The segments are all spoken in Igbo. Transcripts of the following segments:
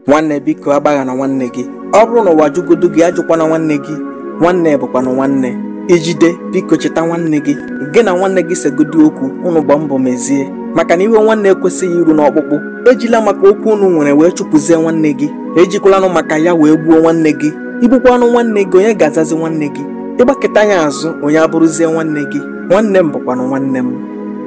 nwanne biko agbaghana nwanne gị ọ bụrụ na ụwa jụgodu gị ajụkwana nwanne gị nwanne bụkwanụ nwanne i jide biko cheta nwanne gị gị na nwanne gị segodi okwu unu gba mbọ mezie maka na iwe nwanne ekwesịghị iru n'ọkpụkpụ ejila maka okwu unu nwere wee chụpụzie nwanne gị ejikwalanụ maka ya wee gbuo nwanne gị i gbukwanụ nwanne gị onye ga-azazi nwanne gị ị gbakụta ya azụ onye abụrụzie nwanne gị nwanne m bụkwanụ nwanne m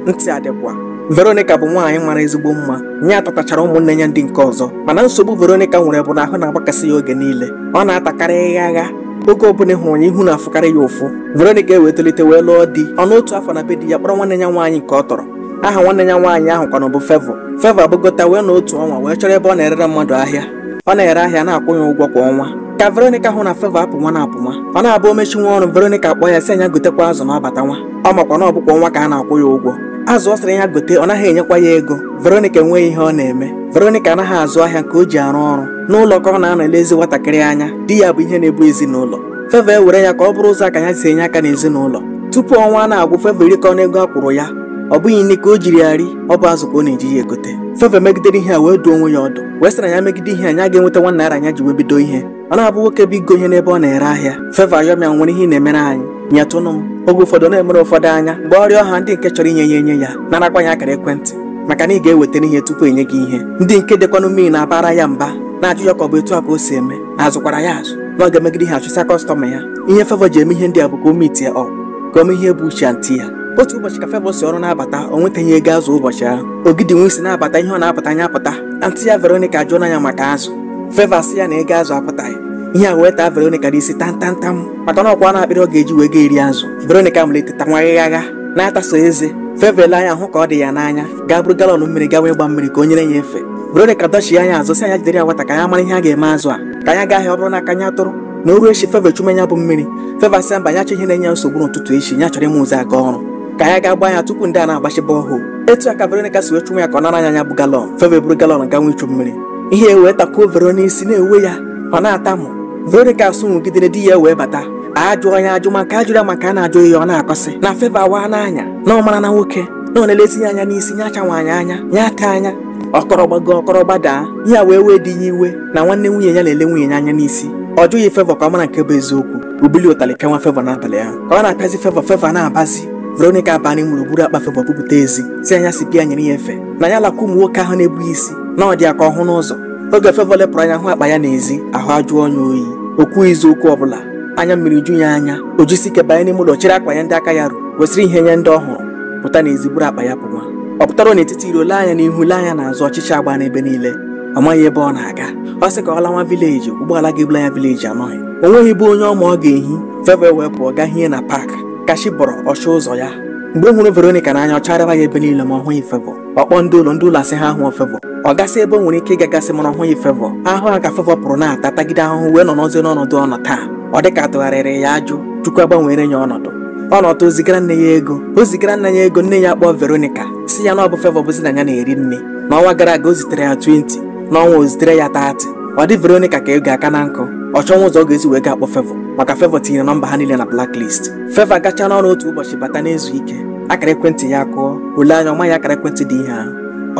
ntị adịkwa Veronica bụ nwaanyị mara ezigbo mma nya tọtachara ụmụnne ya ndị nke ọzọ mana nsogbu Veronica nwere bụ na ahụ na-agbakasị ya oge niile ọ na-atakarị ịghagha oge ọbụla a hụrụ ya ihu na-afụkarị ya ụfụ Veronica ewee tolite wee lụọ di ọ nọọ otu afọ na be di ya kpọrọ nwanne ya nwaanyị nke ọ tọrọ aha nwanne ya nwaanyị ahụ kwanụ bụ Favour Favour agbagota wee nọọ otu ọnwa wee chọrọ ebe ọ na-erere mmadụ ahịa ọ na-ere ahịa a na-akwụ ya ụgwọ kwa ọnwa ka Veronica hụ na Favour apụnwana apụnwa ọ na-abụ o mechinwa ọrụ Veronica akpọọ ya sị ya nya gotekwa azụ na ọ batanwa ọ makwa na ọ bụkwa ọnwa ka a na-akwụ ya ụgwọ azụ ọ sịrị ya gote ọ naghị enyekwa ya ego Veronica enweghị ihe ọ na-eme Veronica anaghị azụ ahịa nke o ji arụ ọrụ n'ụlọ ka ọ na-anọ elezi nwatakịrị anya di ya bụ ihe na-ebu ezinụlọ Favour ewere ya ka ọ bụrụ ụzọ aka ya si enye aka n'ezinụlọ tupu ọnwa ana-agwụ Favour erikọọna ego a kwụrụ ya ọ bụghị nni ka o jiri ya ri ọ bụ azụ ka ọ na-eji ya egote Favour megidere ihe a wee duo onwe ya ọdụ wee sị na ya megide ihe a ya ga-enweta one naira ya ji wee bido ihe ọ na-abụ nwoke bịa igo ihe n'ebe ọ na-ere ahịa Favour ayọnwa ya nwere ihe ị na-emere anyị nyetụnụ m oge ụfọdụ ọ na-emere ụfọdụ anya mgbe ọrịa ọha ndị nke chọrọ inye ya enye ya narakwa ya akara ekwentị maka na ị ga-eweta ihe tupu enye gị ihe ndị nke dịkwanụ mean na-abara ya mba na-ajụ ya ka ọ bụ etu a ka o si eme na a zụkwara ya azụ na ọ ga-emegide ihe achụsa customer ya ihe Favour ji eme ihe ndị a bụ ka o meetie up ka o mee ihe bụ uche aunty ya otu ụbọchị ka Favour si ọrụ na-abata o nwetaghị ego azụ ụbọchị ahụ ogidi nwe isi na-abata ihe ọ na-apụta nya apụta aunty ya Veronica ajụọla ya maka azụ Favour sị ya na ego azụ apụtaghị ihe a wee taa Veronica n'isi tantantam maka na ọ kwaana akpịrị ọ ga-eji wee ga-eri azụ Veronica malite tanwa ịghagha na-ataso eze Favour ele anya hụ ka ọ dị ya n'anya gaa buru galọn mmiri gawa ịgba mmiri ka o nyere ya efe Veronica dọchie nya azụ sị ya nya jidere ya nwata ka ya mara ihe a ga-eme azụ a ka nya gaa ahịa ọ bụrụ na aka nya tụrụ na o ru echi Favour chume ya bụ mmiri Favour sị mba ya achọghị ihe na-enye ya nsogbu n'ụtụtụ echi ya chọrọ ịma ụzọ aga ọrụ ka ya gaa gba nya tupu ndị a ana-agbachi borehole etu a ka Veronica si wee chụnwe ya ka ọ nara nya ya bụ galọn Favour eburu galọn ganwe ichu mmiri ihe wee takwuo Vero n'isi na-ewe ya ọ na-atamu Veronica sụnwụgidere di ya wee bata ajụọ ya ajụ ma nke a jụrụ ya ma nke a na-ajụghị ya ọ na-akọsị na Favour awaana anya na ọ marana nwoke na ọ na-elezi ya anya n'isi nye acha nwaanyị anya nye aka anya ọ kọrọ gbago ọ kọrọ gbadaa ya wee wee di ya iwe na nwanne nwunye ya na-ele nwunye ya anya n'isi ọ jụghị Favour ka ọ mara nke bụ eziokwu bulie ụtalị pịanwa Favour n'abalị ahụ ka ọ na-apịazi Favour Favour na-agbazi Veronica abanye gaa buru akpa Favour bupụta ezi sị ya nya si pịa nyere ya efe na ya lakwu ụmụ nwoke ahụ na-ebu gị isi na ọ dị ya ka ọ hụ n'ụzọ oge Favour lepụrụ anya hụ akpa ya n'ezi ahụ ajụọ ya oyi o kwughizi okwu ọbụla anya mmiri ju ya anya o jisi ike banye n'ime ụlọ chịrị akwa ya ndị aka ya ruru wesịrị ihe ya ndị ọ hụrụ pụta n'ezi buru akpa ya pụwa ọ pụtara n'etiti iro lee anya n'ihu lee anya n'azụ ọchịchị agbaa n'ebe niile ọ maghị ebe ọ na-aga ọ sị ka ọ lawa vileji ụgbọala ga-ebula ya vileji anọghị o nweghị be onye ọ ma ọ ga-ehi Favour wee pụọ gaa hie na paakị ka chi bọrọ ọ chọọ ụzọ ya mgbe m hụrụ Veronica n'anya ọ chagharịwa ya ebe niile ma ọ hụghị Favour ọ kpọọ ndị ụlọ ndị ụlọ asị ha ahụọ Favour ọ gasị ebe o nwere ike ịgagasị mana ọ hụghị Favour ahụ a ka Favour pụrụ na-ata tagide ahụhụ wee nọrọzie n'ọnọdụ ọ nọ taa ọ dị ka atụgharịrị ya ajụ Chukwu agbanweere ya ọnọdụ ọ nọtụ o zigara nne ya ego o zigara nne ya ego nne ya akpọọ Veronica sị ya na ọ bụ Favour bụzi na ya na-eri nni na ọnwa gara aga o zitere ya 20 n'ọnwa a o zitere ya 30 ọ dị Veronica ka ego aka na nkụ ọ chọnwa ụzọ ọ ga-esi wee gaa kpọọ Favour maka Favour tinyere nọmba ha niile na blacklist Favour gachaa n'ọrụ otu ụbọchị bata na-ezu ike akara ekwentị ya akụọ o lee anya ọ maghị akara ekwentị dị ihe ahụ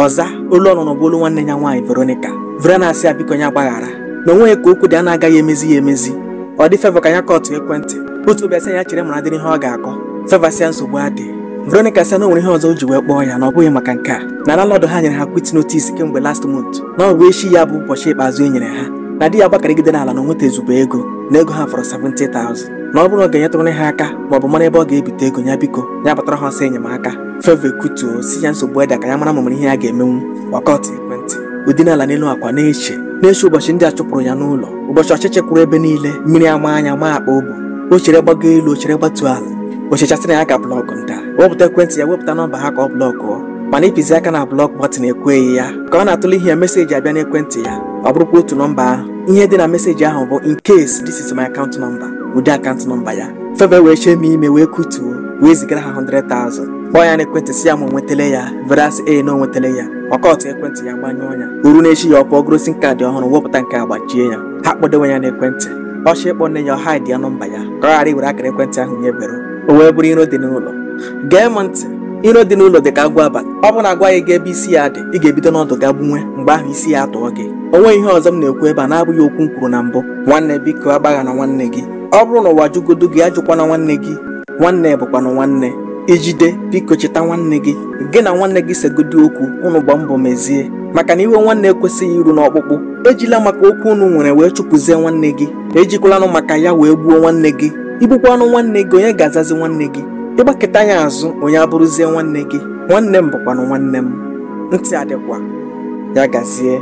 ọ zaa olu ọ nụrụ bụ olu nwanne ya nwaanyị Veronica Vera na-asị ya biko ya gbaghara na o nweghị ka okwu dị a na-agaghị emezi ya emezi ọ dị Favour ka ya kọtụọ ekwentị otu obi asị ya chere mara dịrị ihe ọ ga-akọ Favour sị ya nsogbu adịghị Veronica sị na o nwere ihe ọzọ o ji wee kpọọ ya na ọ bụghị maka nke a na landlord ha nyere ha quit notice kemgbe last month na ọ bụ echi ya bụ ụbọchị ikpeazụ e nyere ha na di ya gbakarịgide n'ala na o nwetaghị ezigbo ego na ego ha fọrọ 70,000 na ọ bụrụ na ọ ga-enyetụrụ ha aka ma ọ bụ mara ebe ọ ga-ebite ego ya biko ya gbatara ha ọsọ enyemaka Favour ekutuo sị ya nsogbu adịghị ka ya mara ma o nwere ihe ya ga-emenwu wee kọtụọ ekwentị o dinara n'elu akwa na-eche na-eche ụbọchị ndị a chụpụrụ ya n'ụlọ ụbọchị ọchịchị kwụrụ ebe niile mmiri amaa ya maa akpa o bu o chere gbago elu o chere gbatu ala o chechaa sị na ya ga-ablọkụ ndị a wepụta ekwentị ya wepụta nọmba ha ka ọ blọkụọ mana ịpịzi aka na blọk bọtịn ekweghị ya ka ọ na-atụle ihe a meseji abịa n'ekwentị ya ọ bụrụkwa otu nọmba ahụ ihe dị na meseji ahụ bụ in case this is my account number o dee account number ya Favour wee chemie ime wee kutuo wee zigara ha 100,000 kpọọ ya n'ekwentị sị ya ma o nwetala ya Vera asị ee na o nwetala ya ọ kọtụọ ekwentị ya gbanyụọ ya o ruo n'echi ya ọ pụọ goro sim kaadị ọhụrụ wepụta nke a gbachie ya ha kpọdewe ya n'ekwentị ọ chọọ ịkpọ nne ya ọ haịdịa nọmba ya ka ọ ghara iwere akara ekwentị ahụ nye Vera o wee bụrụ iro dị n'ụlọ gee m ntị iro dị n'ụlọ dị ka agwọ abalị ọ bụ na a gwaghị gị ebe isi ya dị ị ga-ebido n'ọdụ gaa gbunwe mgbe ahụ isi ya atụọ gị o nweghị ihe ọzọ m na-ekwu ebe a na-abụghị okwu m kwuru na mbụ nwanne biko agbaghana nwanne gị ọ bụrụ na ụwa jụgodu gị ajụkwana nwanne gị nwanne bụkwanụ nwanne i jide biko cheta nwanne gị gị na nwanne gị segodu okwu unu gbaa mbọ mezie maka na iwe nwanne ekwesịghị iru n'ọkpụkpụ ejila maka okwu unu nwere wee chụpụzie nwanne gị ejikwalanụ maka ya wee gbuo nwanne gị i gbuokwanụ nwanne gị onye ga-azazi nwanne gị ị gbakụta ya azụ onye abụrụzie nwanne gị nwanne m bụkwanụ nwanne m ntị adịkwa ya gazie